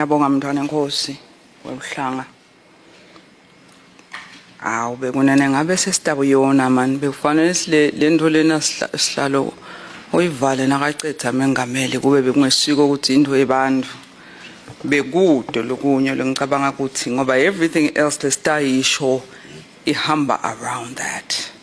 Ngiyabonga mntwana enkosi weluhlanga. Awu bekunene ngabe sesitabu yona mani bekufanele sile lento lena sihlalo uyivale nakacetha mengameli kube bekungesiko ukuthi into yebantu bekude lokunye lengicabanga ukuthi ngoba everything else lesitayisho ihamba around that.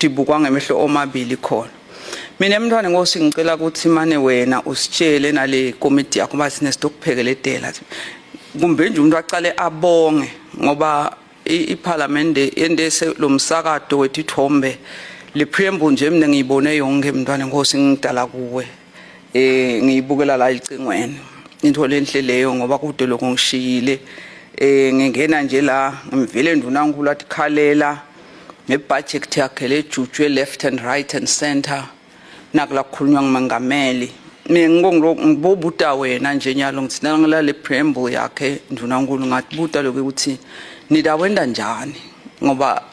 dibukwa ngemehlo omabili khona mina mntwana nkosi ngicela ukuthi mane wena usitshele nale komiti yakho uba sinesinto okuphekele edela kumbe nje umuntu aqale abonge ngoba iphalamende endese lo msakato wethu ithombe le preamble nje mina ngiyibone yonke mntwana nkosi ngidala kuwe eh ngiyibukela la icingweni into lenhle leyo ngoba kude lokho ngishiyile eh ngingena nje la ngivele ndunankulu athi khalela ngebudget yakhe lejutshwe left and right and center nakula kukhulunywa ngumengameli mina ngibobuta wena nje nyalo ngithi nangilale preamble yakhe ndunankulu ngathi buta lokho ukuthi nidawenda njani ngoba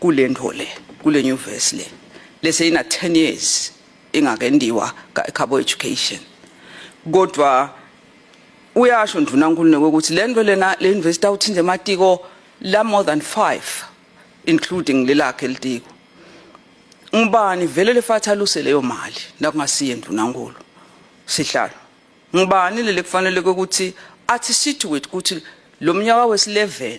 kule nto le kule nyuvesi le lese ina 10 years ingakendiwa ka-cabo education kodwa uyasho ndvunankulunkulu ukuthi le nto lena le yunivesithi awuthinta ematiko la more than five including lelakhe litiko ngubani vele lefathaluse leyo mali nakungasiye ndvunankulu sihlalo ngubani leli kufanele ukuthi athi situate ukuthi lo mnyaka wesi-11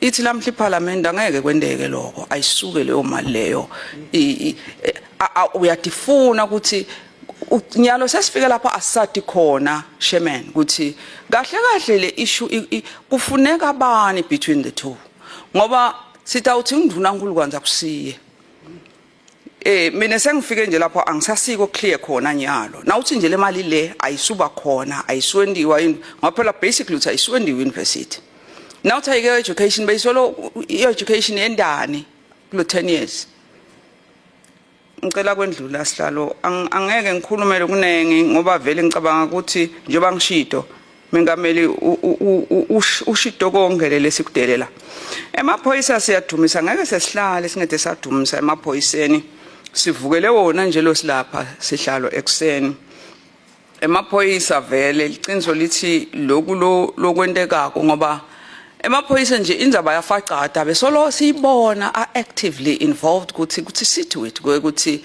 ithi namhla iphalamende angeke kwenteke lokho ayisuke leyo mali leyo e, uyatifuna ukuthi nyalo sesifike lapho asisati khona shemen ukuthi kahle kahle le issue kufuneka bani between the two ngoba sitawuthi nginduna nkulu kwanza kusiye Eh mina sengifike nje lapho angisasiko clear khona nyalo. Nawuthi nje le mali le ayisuba khona, ayiswendiwa yini? Ngaphela basically uthi ayiswendiwa university. Nawuthi ayike education bayisolo education yendani kulo 10 years. Ngicela kwendlula sihlalo angeke ngikhulumele kuningi ngoba vele ngicabanga ukuthi njengoba ngishido Mengameli ushito konke leli sikudelela emaphoyisa siyadumisa ngeke sesihlale singede sadumisa emaphoyiseni sivukele wona nje lo silapha sihlalo ekuseni emaphoyisa vele liqiniso lithi loku lokwentekako ngoba emaphoyisa nje indzaba yafacada besolo siyibona are actively involved ukuthi kuthi sithi wethu ukuthi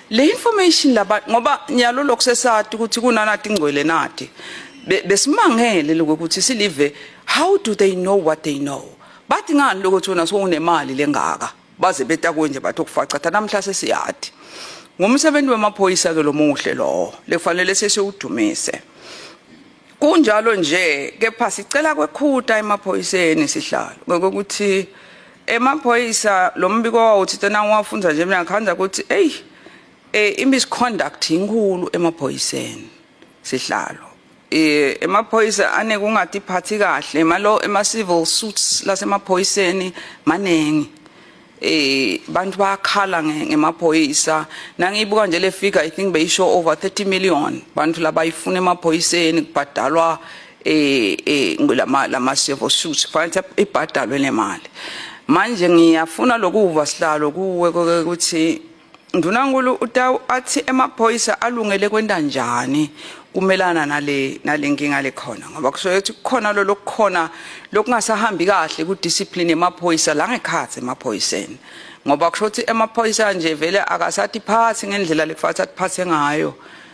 le information laba ngoba nyalo lokho sesati ukuthi kunanati ingcwele nati besimangele lokho ukuthi silive how do they know what they know bathi ngani lokho thona sokunemali lengaka baze betakwe nje bathi okufaca thatha namhla sesiyati ngumsebenzi wemaphoyisa ke lomuhle lowo lekufanele sesiwudumise kunjalo nje kepha sicela kwekhuta emaphoyiseni sihlalo ngokuthi emaphoyisa lo mbiko wawuthithe nangiwafunza nje mina ngikhanda ukuthi eyi um i-misconduct yinkulu emaphoyiseni sihlalo um emaphoyisa anekungathi iphathi kahle malo ema-civil suits lasemaphoyiseni maningi eh bantu bayakhala ngemaphoyisa nangiyibuka nje le figure i think beyisho over 30 million bantu labayifuna emaphoyiseni kubhadalwa eh eh lama lama civil suits fanele ibhadalwe nemali manje ngiyafuna lokuva sihlalo kuwe ukuthi ndunankulu utawu athi emaphoyisa alungele kwenta njani kumelana nale nalenkinga lekhona ngoba kusuke ukuthi kukhona lo lokukhona lokungasahambi kahle ku discipline emaphoyisa la ngekhathi emaphoyiseni ngoba kusho ukuthi emaphoyisa nje vele akasathi phathi ngendlela lekufanele athi phathe ngayo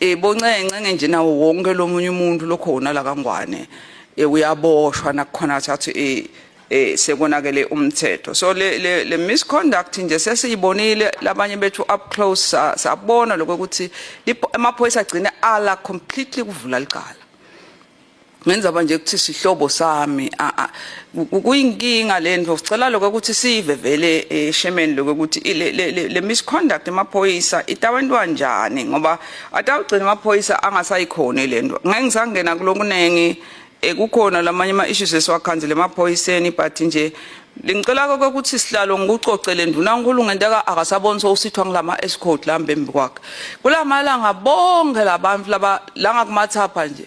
Eh boncenca ngenje nawo wonke lomunye umuntu lokhona la kangwane eh uyaboshwa nakukhona thathu eh eh sekonakele umthetho so le le, le misconduct nje sesiyibonile labanye bethu up close sabona lokho ukuthi amaphoyisa agcine ala completely kuvula licala ngenzaba nje ukuthi sihlobo sami kuyinkinga lento sicela lokho ukuthi sive vele eshemeni eh, lokho ukuthi le misconduct emaphoyisa itawentwa njani ngoba atawugcina amaphoyisa angasayikhona lento ngeke ngisangena kulokuningi eh, kukhona lamanye ama issues esiwakhanzile emaphoyiseni but nje Lingicela konke ukuthi sihlalo ngikucocele ndunankulu ngento aka akasaboni sowusithwa ngilama escort lambembi kwakhe. Kulamalanga bonke labantu laba la ngakumathapha nje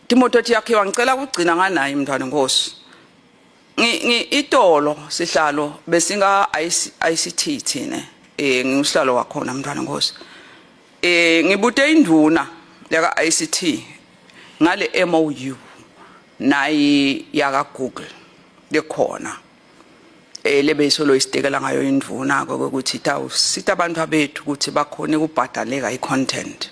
Timoto ethi yakhe wangicela ukugcina nganaye mntwana nkosi. Ngi itolo sihlalo besinga ICT thina eh ngiusihlalo wakhona mntwana nkosi. Eh ngibute induna yaka ICT ngale MOU nayi yaka Google lekhona eh lebe isolo isitekela ngayo indvuna ke ukuthi tawusita abantu abethu ukuthi bakhone kubhadaleka icontent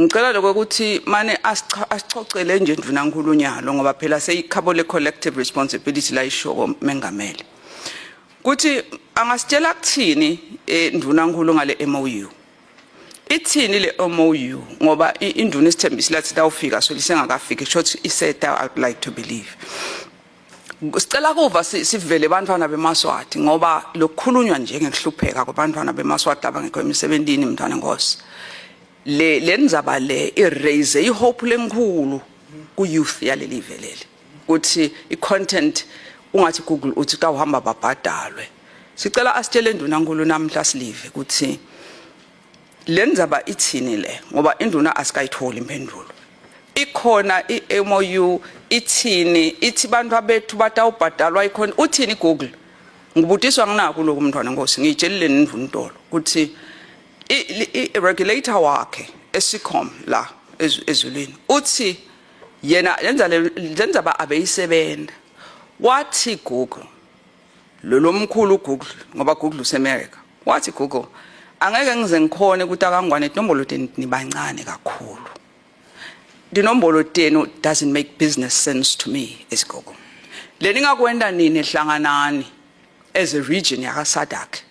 Ngicela lokho ukuthi mane asichocele nje ndvunankulu nyalo ngoba phela seyikhabo le collective responsibility la ishoko mengameli. Kuthi angasitshela kuthini eh, ndvunankulu ngale MOU. Ithini le MOU ngoba induna isithembisi lathi tawufika so lisengakafiki short iseta I would like to believe. Sicela kuva sivele abantwana bemaswati ngoba lokukhulunywa nje ngekuhlupheka kwabantwana bemaswati abangekho emisebenzini mntwana Nkosi. le lenzaba le iraise ihope lenkhulu ku youth yaleli veleli ukuthi i content ungathi google uthi ka uhamba babhadalwe sicela asitshele induna nkulu namhla silive ukuthi lenzaba ithini le ngoba induna asikayitholi impendulo ikhona iMOU ithini ithi bantu abethu batawubhadalwa ikhona uthini google ngibudiswa nginaku lokhu mntwana nkosi ngiyitshelile nindvuntolo ukuthi i-regulator wakhe esicom la ezulwini uthi yena lenza lenza ba abeyisebenza wathi google lo lomkhulu google ngoba google useAmerica wathi google angeke ngize ngikhone ukuthi akangwane inombolo tenu nibancane kakhulu inombolo tenu doesn't make business sense to me as google leningakwenda nini hlanganani as a region yakasadak